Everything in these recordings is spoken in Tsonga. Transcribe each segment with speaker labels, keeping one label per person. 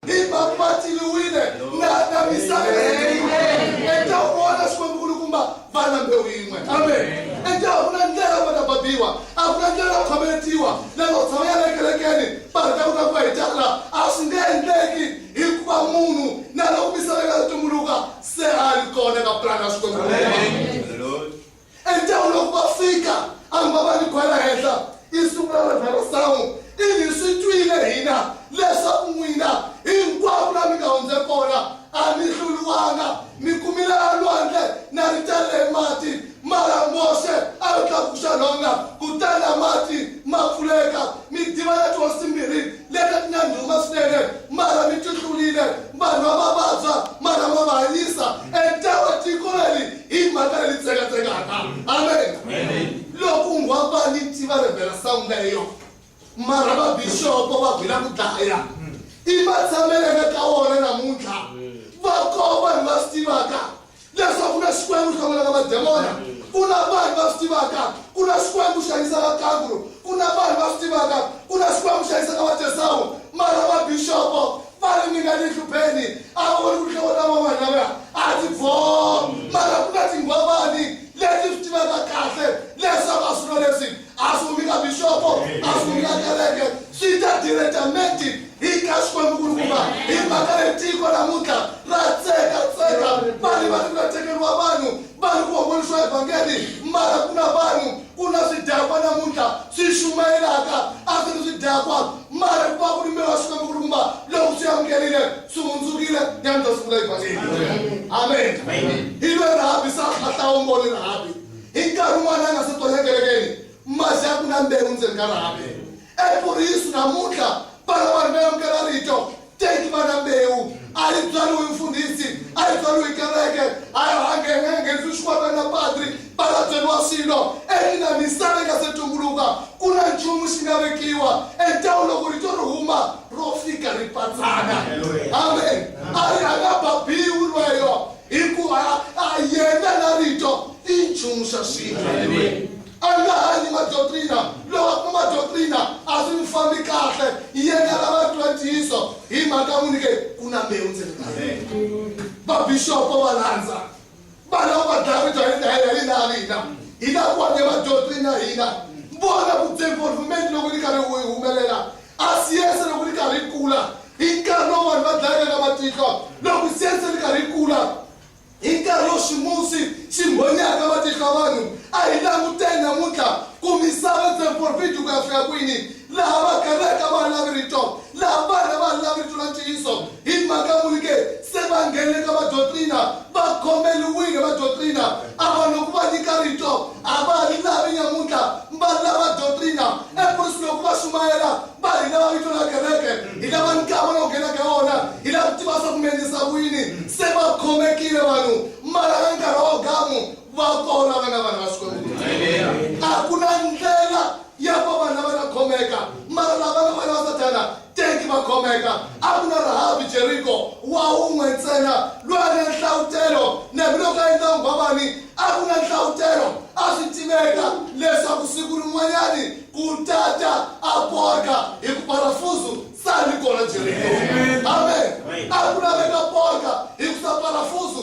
Speaker 1: himamatiwile na na misava etawona xikwembu kulukumba vana mbewu yin'we enta a ku na ndlela va ta babiwa a ku na ndlela khometiwa lelo tshama ya lekelekeni barita ku nakuva hi tala a swi nge endleki hikuva munhu na loko misava yi nga tumbuluka se a ri kona ka pulani ya xikwembu Endzhaku loko va fika, a hamba va ni khwela henhla, i sungula Revhera Samu, i ni swi twile hina leswaku n'wina hinkwako la mi nga hundze kona a mi hluriwanga, mi kumile la lwandle na ri talele hi mati, mara Moxe a lo tlakuxa nhonga, kutani la mati ma pfuleka, mi diva na tihosi timbirhi leti ti na ndhuma swinene mara mi tihlulile vanhu va va vabya mara ma va hanyisa entewa tiko leri hi mhaka leyi tsekatsekaka amen loko unghwa va ni tiva revhela sangu leyo mara va bixopo va gwila ku dlaya i matshamelene ka wona namuntlha va koo vanhu va swi tivaka Leswaku na Xikwembu xi hlongolaka mademona, ku na vanhu va swi tivaka ku na Xikwembu xi hanyisaka kanguru, ku na vanhu va swi tivaka ku na Xikwembu xi hanyisaka vatesawu, mara mabixopo va ri ninga ni nhlupeni a va voni ku hlongo ta van'wana lavaya a ti bvoo, mara ku na tinghwavani leti swi tivaka kahle leswaku a swilo leswi asungula bishopo asungula kereke swi ta directamente hi ka xikwembu kulukumba hi mhaka le tiko namuntlha ra tseka tseka vanhu va ri ku tekeriwa vanhu va ri ku hombolisiwa evhangeli mara ku na vanhu ku na swidakwa namuntlha swi xumayelaka a swi ri swidakwa mara ku va ku ri mbewu wa xikwembu kulukumba loko swi amukerile swi hundzukile ya mi ta sungula evhangeli amen hi lwe rahabi sa khahlawumboni rahabi Hi nkarhi wun'wana a nga se tonya kerekeni, masi a ku na mbewu ndzeni ka rhavi. EPurisu namuntlha, vana va rina amukela rito, teki va na mbewu. A yi byariwi hi mfundhisi, a yi byariwi hi kereke, a ya ha nghenisi swikwembe na padri, va la byeriwa swilo. Eina misava yi nga se tumbuluka, ku na nchumu xi nga vekiwa entawu loko rito ri huma ro fika ri patsana. Amen. A ri a nga ba biwi lweyo. Hikuva a yena na Rito i nchumu xa swin'we. A nga hanyi madoktrina, loko a kuma doktrina a swi n'wi fambi kahle, yena lava twa ntiyiso hi mhaka n'wi nyike ku na mbewu ndzeni ka yena. Vabixopo va landza, va lava va dlaya Rito hi ndlela ya hina ha hina, hi lava ku hanya madoktrina ya hina. Vona ku development loko yi karhi yi humelela, A siyense loko ri karhi ri kula hi nkarhi lowu vanhu va dlayaka ka matihlo. Loko siyense ri karhi ri kula hi nkarhi lowu ximusi xi mbhonyaka matihlo ya vanhu, a hi languteni namuntlha ku misava yi tshame porofidi ku ya fika kwini, laha va karhaka va ha lavi rito, laha vanhu a va ha lavi rito ra ntiyiso. Hi mhaka muni ke se va nghenile ka vadyotrina? Va khomeriwile vadyotrina ava loku va nyika rito. A va ha ri lavi nyamuntlha, va lava dyotrina. Efurisini loku va xumayela va hi lava vito ra kereke, hi lava nkama lowu nghena ka wona, hi lava ku tiva swa ku mi endlisa ku yini. Se va khomekile vanhu, mara ka nkarhi wa Gamu va kona vana vanhu va Xikwembu. A ku na ndlela ya ku va vanhu lava ta khomeka, mara lava nga vana va Sathana, Teki va khomeka. A ku na Rahabi Jeriko wa un'we ntsena loyi a ri na nhlavutelo, na hambiloko a endla nghwavani, a ku na nhlavutelo. A swi tiveka leswaku siku rin'wanyani ku ta ta a porka, hi ku parafuzu, Sa ri kona Jeriko. Amen. A ku laveka porka, hi ku sa parafuzu,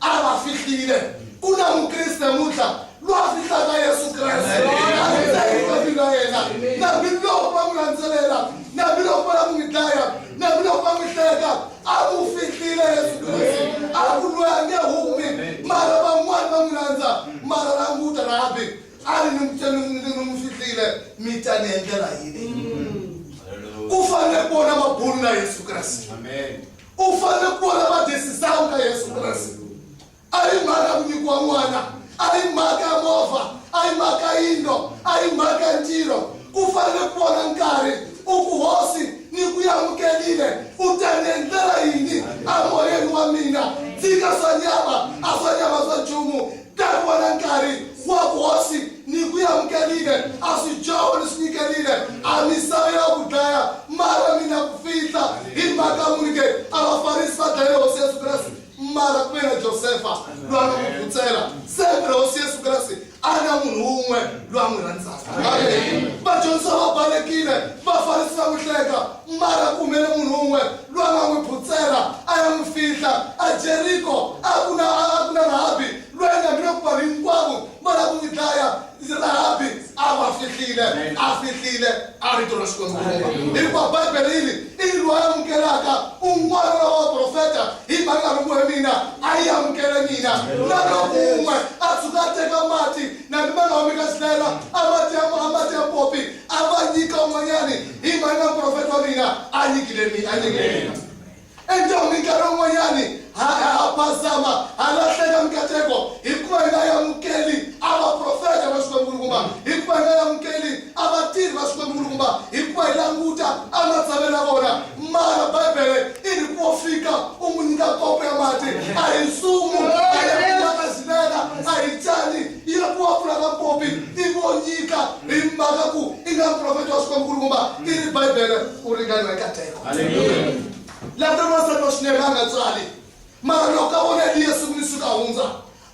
Speaker 1: a va fihlile ku na mukriste muntlha loyi a fihlaka yesu kreste a ri teka vina yena nambiloko va n'wi landzelela nambiloko va la ku n'wi dlaya nambiloko va n'wi hleka a ku fihlile yesu kreste a ku loyi a nge humi mara van'wani va n'wi landza mara languta rabi a ri ni n'wi fihlile mi ta ni endlela yini ku fanele ku vona va bulu na yesu kreste u fanele ku vona madesisawu ka yesu kreste a yi mhaka ku nyikiwa n'wana a yi mhaka ya movha a yi mhaka yindlo a yi mhaka ya ntirho ku fanele ku vona nkarhi u ku hosi ni ku yamukelile u ta ni endlela yini amoyeni wa mina tshika swa nyama a swa nyama swa nchumu Nkarhi wa na nkarhi wa hosi ni ku yamukelile a swi dyoho ni swi nyikelile a misava ya ku dlaya mara mina ku fihla hi mhaka muni ke a vafarisi va dlaye hosi yesu kreste mara ku ve na josefa loyi a nga n'wi vutsela sembe hosi yesu kreste a na munhu wun'we loyi a n'wi rhandzaka vadyondzisa va balekile vafarisi va n'wi hleka Mara ku humele munhu un'we loyi a nga n'wi phutsela a ya n'wi fihla aJeriko. A ku na a ku na Rahabi loyi a nga mina ku vanhu hinkwavo va lava ku n'wi dlaya. Rahabi a va fihlile, a fihlile a rito ra Xikwembu Yehovha. Hikuva Bibele yi ri, I yini loyi a amukelaka un'wana wa lava vaprofeta hi mhaka ya loko he mina a yi amukele mina? Na loko un'we a tshuka a teka mati na mina Naomi ka Xilayela a mati ya a mati ya popi a va nyika un'wanyani, i mali ya muprofeti wa mina a nyikile mina a nyikile mina enjhawu minkarhi un'wanyani ha ha phazama ha lahleka mikateko hikuva hi nga yamukeli a vaprofeta va xikwembu-nkulukumba hikuva hi nga yamukeli a vatirhi va xikwembu-nkulukumba hikuva hi languta a matsalweni ya vona mara bibele i ri ku wo fika u n'wi nyika kopo ya mati a hi nsumu a ya kumakazivela a hi cani ya ku wa pfula mapopi i vo nyika hi mhaka ku i nga muprofeti wa swikombukulukumba i ri bibele u ringaniwa eka teko lata n'wansati wa swinene a nga tswali mara loko ka vona eliya siku ni siku a hundza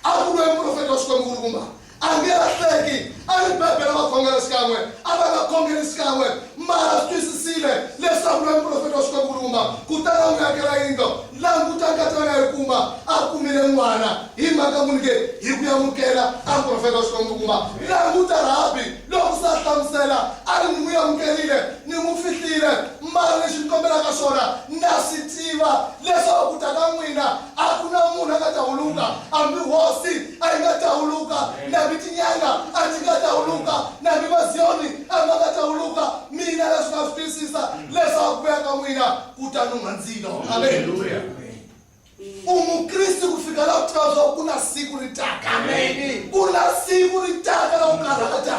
Speaker 1: a ku lwe muprofeti wa swikombukulukumba a nge lahleki a ri bibele va khongela xikan'we a va nga khongeli xikan'we mara swi twisisile leswaku lwe muprofeti wa swikombukulukumba kutana n'wi yakela yindlo languta nkatana yi kuma a kumile n'wana hi mhaka ku nike hi ku yamukela a muprofeta wa xikwembu kuma languta rabi loko sa hlamusela a ri ni n'wi yamukerile ni n'wi fihlile mara lexi ni kombelaka swona na swi tiva leswaku ku ta ka n'wina a ku na munhu a nga ta huluka hambi hosi a yi nga ta huluka nambi tinyanga a ti nga ta huluka nambi maziyoni a ma nga ta huluka mina leswi nga swi twisisa leswaku ku ya ka n'wina kutani u nga ndzi no aleluya u mukriste ku fika laha u tiva leswaku ku na siku ri taka ku na siku ri taka la u karhata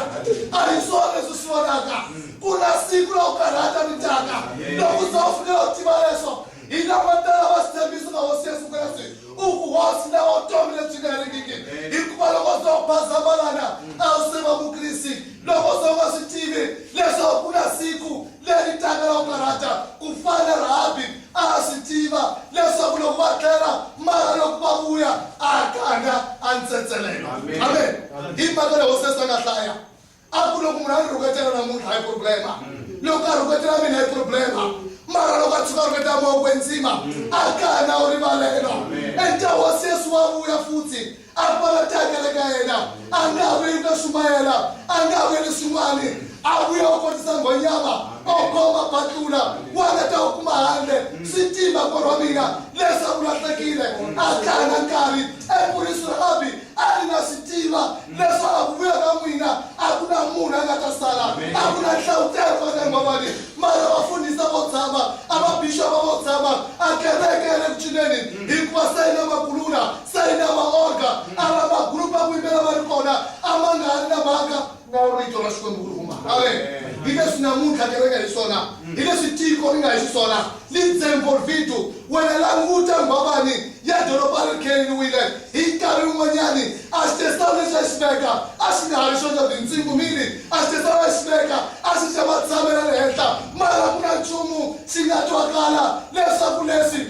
Speaker 1: a hi swona leswi swi vonaka ku na siku la u karhata ri taka loko u za u fika laha u tiva leswo hi lama tala va sithembiso ka hosi yesu kreste u ku hosi lava vutomi lebyi nga herikiki hikuva loko u za u bazamalana a wu se va mukriste loko u za u nga swi tivi leswaku ku na siku leri taka ra ku karhata, ku fana na Rahabi a a swi tiva leswaku loko va tlhela mara loko va vuya a ka a nga a ntsetselelo. Amen. Hi mhaka leyi hosesi a nga hlaya a ku loko munhu a ni rhuketela namuntlha hi problema loko a rhuketela mina hi problema mara loko a tshuka a rhuketela mawoko enzima a ka a na u rivalelo enta hosi yesu wa vuya futhi a va la tihanyele ka yena a nga ha veli na sumayela a nga ha veli swin'wani a vuya u kotisa nghonyama ogoma batlula wana ta u kuma handle swi tima korwa mina leswaku lahlekile a tlanga nkarhi epurisi ra abi a ri na swi tiva leswaku a ku vuya ka n'wina a ku na munhu a nga ta sala a ku na nhlawutelo va ka ngwavani mara vafundhisa vo tshama a vabixova vo tshama a kereke ya le ku cineni hikuva se yi na makulula sayina maorga ava magrupu akuimbela vari kona amanga ari na mhaka na rito ra xikwembu ku ri huma ave hi leswi namuntlha kereke hi swona hi leswi tiko ri nga hi xiswona lidzenvolvitu wena languta nghwavani ya doroba ri kheleriwile hi nkarhi wun'wanyani a xitesana lexi a xi veka a xi nga ha ri xoxa vintsingu mini a xitesana a xi veka a xi xa matshamela le henhla mara ku na nchumu xi nga twakala leswaku leswi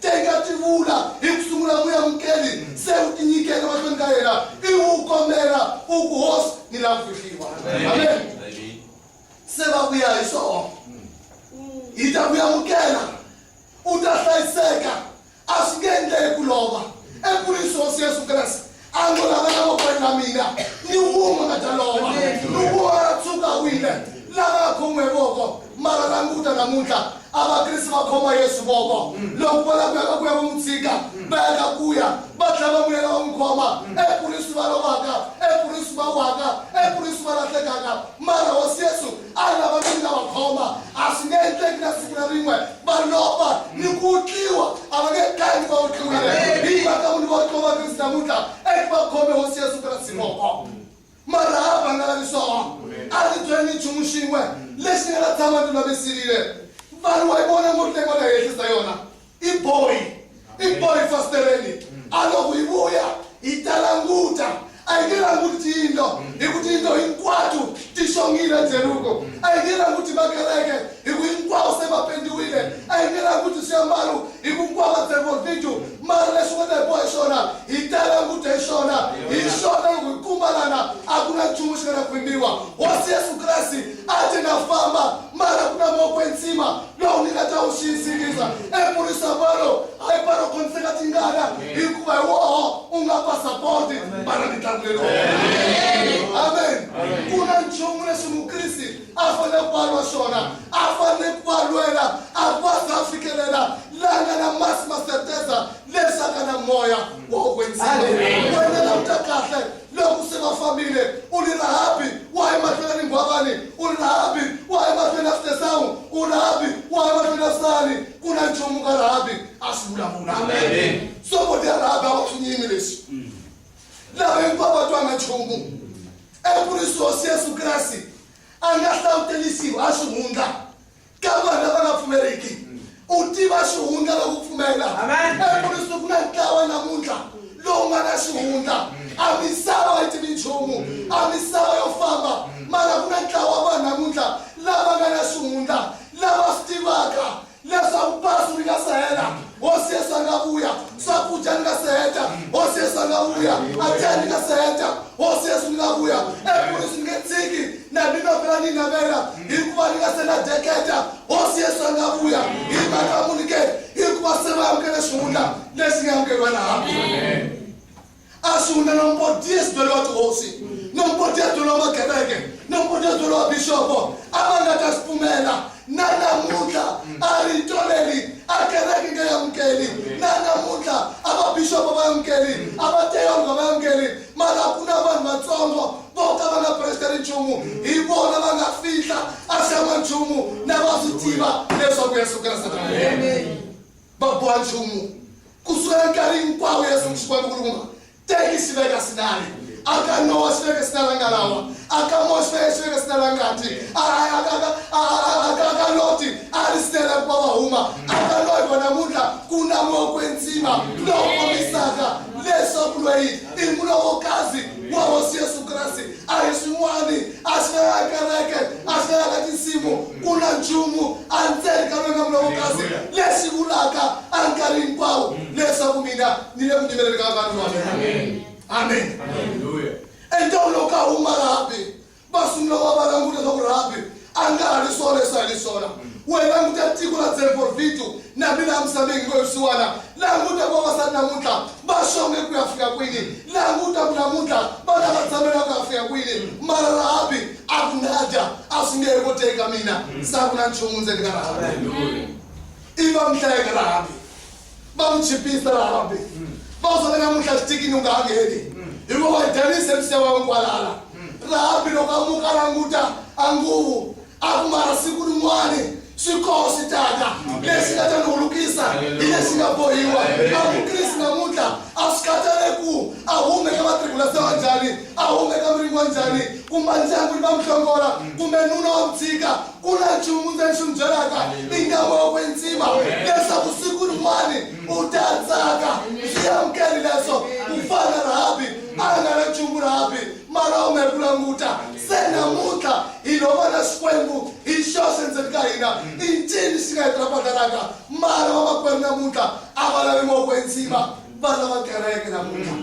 Speaker 1: Teka tivula hi ku sungula muyamukeli se u tinyikela mahlweni ka yena ivi u kombela u ku hosi ni la ku fihliwa amen se va ku ya hi swona hi ta ku yamukela u ta hlayiseka a swi nge endleki ku lova ekurisi hosi yesu kreste a ngo lava lavakweni va mina ni wun'we nga ta lova loko a tshuka wile lava nga khomiwe voko mara languta namuntlha a vakriste va khoma yesu voko loko va lava ku ya ka ku ya va n'wi tshika va ya ka ku ya va tlhela va vuyela va n'wi khoma ekurisu va lovaka ekurisu va waka ekurisu va lahlekaka mara hosi yesu a lava ni nga va khoma a swi nge endleki na siku na rin'we va lova ni ku tliwa a va nge tangi va utliwile hi mhaka ku ni va utliwa va krista mutla eku va khome hosi yesu krasi moko mara a va nga lavi swona a ni byele ni nchumu xin'we lexi ni nga ta tshama ni lulamisilile vanhu wa yi vona ngotlekwala henhlisa yona i boy i boy fasitereni a loko yi vuya hi ta languta a yi nge languti tiyindlo hi ku tiyindlo hinkwato ti xongile ndzeluko a yi nge languti makereke hi ku hinkwawo se va pendiwile a yi nge languti swiambalo hi ku hinkwavo va tseriwa video mara leswi nga ta hi boha hi swona hi ta languta hi swona hi swona loko hi kumbalana a ku na nchumu xi nga na khwimbiwa hosi yesu kreste a ti nga famba mara ku na moko entsima lowu ni nga ta wu xiyisikiza emurisa valo hayi paro khontseka tingana hikuva hi woho u nga pasapoti bara mitlangu lelo amen ku na nchumu leswi mukrisi a fanele ku valwa swona a fanele ku valwela a ku a za fikelela langa na masi maseteza lesaka na moya wa ku kwetsima wena languta kahle loko se va fambile u ri rahabi wa hi mahlweni ni nghwavani u ri rahabi wa hi mahlweni ya sitesawu u rahabi wa hi mahlweni ya sani ku na nchumu ka rahabi a swi vulavula sokoti ya rahabi a va swi nyimi leswi mm. lava hinkwavo va twanga nchumu eku ri sosi yesu kreste a nga hlangutelisiwi a swi hundla ka vanhu lava nga pfumeriki u tiva xihundla loko pfumela emuriswi ku na ntlawa namuntlha lowu nga na xihundla a misava wa yi tivi nchumu a misava yo famba mara ku na ntlawa vanhu namuntlha lava nga na xihundla lava swi tivaka leswaku pasi ri nga se hela hosi yesu a nga vuya swakudya ni nga se heta hosi yesu a nga vuya atyani ni nga se heta hosi yesu ni nga vuya emuriswi ni nge tshiki Na mina phela ni navela, hikuva ni nga se na deketa, Hosi Yesu a nga vuya hi mhaka ya munhu ke? Hikuva se va amukele xihundla lexi nga amukeriwa na hambi. A xihundla na mupodiyesi byele wa tihosi, na mupodiyesi byele wa magereke, na mupodiyesi byele wa bixopo, a va nga ta xi pfumela. Na namuntlha a rito leri a kereke nga yi amukeli, na namuntlha a vabixopo va yi amukeli, a vateologa va yi amukeli, mara ku na vanhu vatsongo vo ka va nga presiteri nchumu hi vona va nga fihla a xa n'wanchumu na va swi tiva leswaku yesu kreste va boha nchumu ku sukela nkarhi hinkwawo yesu xikwembu kulukuma teki xi veka sinari aka nowa xi veke sinari nga lawa aka mowa xi veke xi veke sinari a ngati aka loti a ri sinela ku va va huma aka loyi vona muntlha ku na moya kwenzima lowu kombisaka leswaku loyi i mulovokazi wa hosi yesu kreste a hi swin'wani a swi na ya kereke a swi na ya ka tinsimu ku na nchumu endzeni ka lwena mulovokazi lexi vulaka a nkarhi hinkwawo leswaku mina ni le ku nyimeleni ka vanhu va mina amen entombo lowu ka huma laha va sungula va va languta leswaku rhabi a nga ha ri swona leswi a hi ri swona wena languta tiko ra zemforvitu na mina a misaveni ngo swisiwana languta ku vavasati namuntlha va xonge ku ya fika kwini languta ku namuntlha vana va tshamela ku ya fika kwini mara rhabi a ku nga dya a swi nge he koteki ka mina sa ku na nchumu ndzeni ka rhabi i va mihlayeka rhabi va n'wi chipisa rahambi va ku sale namuntlha xitikini u nga ha ngheni hikuva wa danise msiya wa nkwalala rahambi loko a muka languta a nguvu a ku mara siku rin'wani swikoho swi tata lexi nga ta ni hulukisa hi lexi nga bohiwa a mukrisi namuntlha a swi khatale ku a hume ka vatribula se wa njhani a hume ka miringo wa njhani kumbe ndyangu ni va muhlongola kumbe nuna wa mutshika ku na nchumu ndzi ni xi mi byelaka i nga va wa kwenzima leswaku siku rin'wani u ta tsaka swi amukeli leswo ku fana rahabi a nga na nchumu rahabi mara u nga ri ku languta se namuntlha hi lo va na xikwembu hi xoxe ndzeni ka hina i ncini xi nga hi tirapatalaka mara vamakwerhu namuntlha a va lavi moko enzima vana va kereke namuntlha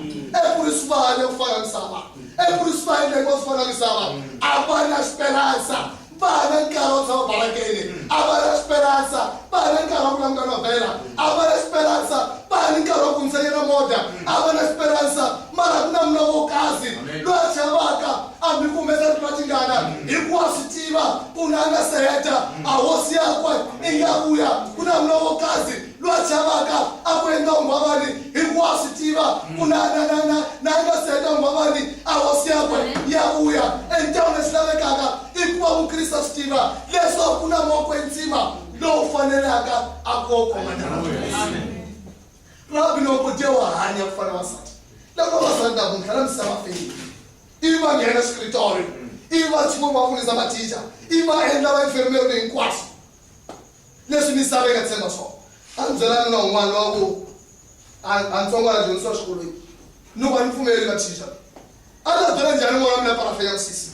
Speaker 1: ekurisi vana yo ku fana misava ekurisi va endleke va ku fana misava a va na xiperansa vana nkarhi wa tshama barakeni a va na xiperansa vana nkarhi wa ku languta novhela a va na xiperansa vana nkarhi wa ku ntsanyela moda a va na xiperansa mara ku na muna wo kasi loyi a chavaka a mi kumeka ri tingana hikuwa swi tiva ku na nga seheta a hosi yakwe i nga vuya ku na muna wo kasi Lwa chavaka a ku endla unghwavani, hikuva a swi tiva ku na, na, na, na, na nga si heta unghwavani a hosi yakwe ya vuya. Endhawini lexi lavekaka i ku va Mukriste a swi tiva leswaku ku na moko ya ntsima lowu fanelaka a ku wo koma nandzu. Rabi loko dye wa hanya ku fana wasati loko vasati lavo ntlha la misava feyini ivi va nghena xikritori ivi va chimo va funisa mathicha ivi va endla va infirmeri hinkwaswo Leswi misava yi nga tshemba swona. A ndzi byelana na un'wana loyi a ku a a ntsongo a nga dyondzisiwa xikolweni no va ni mpfumeleli va teacher. A ndzi ta byela njhani n'wana wa mina ku a nga fenya misisi?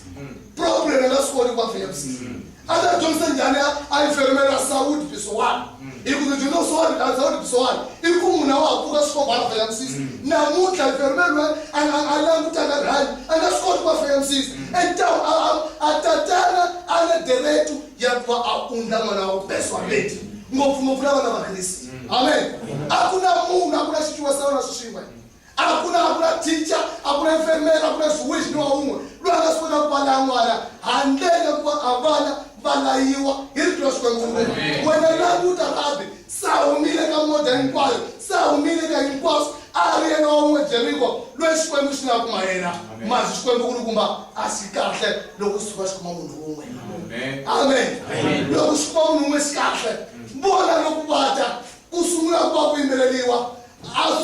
Speaker 1: Problem a nga swi koti ku a fenya misisi. A ndzi ta dyondzisa njhani a a enfermela ra Saudi Pisowana? Hi ku ndzi dyondza ku Saudi a Saudi Pisowana i ku munhu a wa ha pfuka swikomba a nga fenya misisi. Namuntlha enfermela loyi a nga a langutaka rihanyo a nga swi koti ku a fenya misisi. And a a a tatana a nga deretu ya ku va a undla n'wana wa kubesuhameti ngopfungopfu na vana va kriste amen a ku na munhu a ku na xicuva sa vana swixin'we a ku na a ku na ticha a ku na femela a ku na xiwihi ni wa wun'we loyi a nga swi kota ku pala n'wana handlele ku va a vana va layiwa hi rito ra xikwembu wena languta rabi Se a humile eka muda hinkwayo, se a humile eka hinkwaswo, a ri yena wa un'we Jeriko loyi Xikwembu xi nga kuma yena. Ma zwi Xikwembu ku ri kumba a xi kahle loko xi tshuka xi kuma munhu un'we. Amen. Loko xi kuma munhu un'we xi kahle. Vona loko va ta ku sungula ku va ku yimbeleriwa a